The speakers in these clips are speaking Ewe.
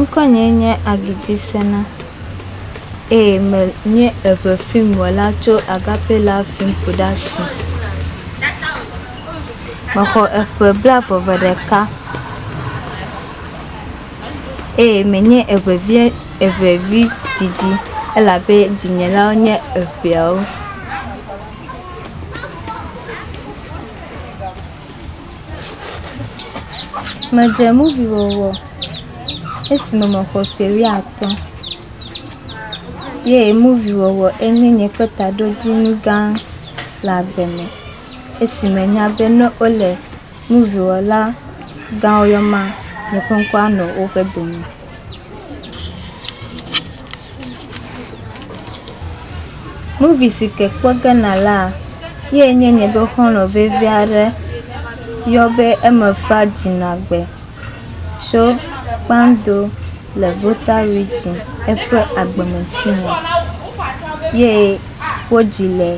Ŋkɔnye nye Agidi Sena eye menye eŋefilm wɔla tso Agape Love Film Production. Mexɔ eƒe blaeve vɔ ɖeka eye menye eŋevi eŋevi didi elabe dinyelawo nye eŋeawo. Medze muvi wɔwɔ esime mexɔ ƒe wuiatɔ̃ ye muvi wɔwɔ enye nye ƒe taɖodzinu gã le agbe me esi menya be ne wole muviwɔla gãwo yɔm la, nye ŋkɔ anɔ woƒe dome. Movie si ke kpɔ ge nala ye nye nye be xɔlɔ vevi aɖe yɔ be eme fa dzinagbe tso Kpando le Volta Region eƒe agbemetsi me ye wodzi le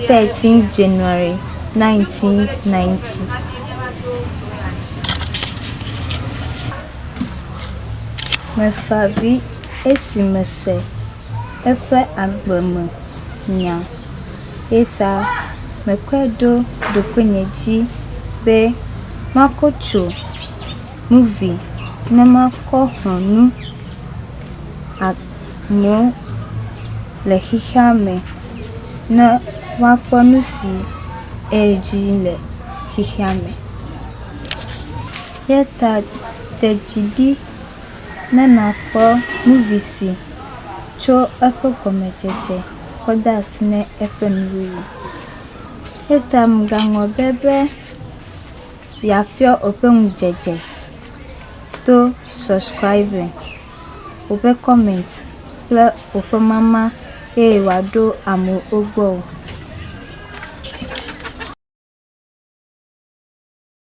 13 January 1990. Mefa avi esi mese eƒe agbe me nya. Eyata mekpe ɖo ɖokuinye dzi be makɔ tso nuvi ne makɔ xɔ nu amewo le xexea me ne woakpɔ nu si edzi le xexea me. Eya ta de dzi ɖi ne nàkpɔ nuvisi tso eƒe gɔmedzedze kɔ de asi na eƒe nuwuwu. Eya ta mègaŋlɔ be be yeafiɔ eƒe ŋudzedze to subscribing, woƒe comment kple woƒe mama eye wòaɖo amewo gbɔ o.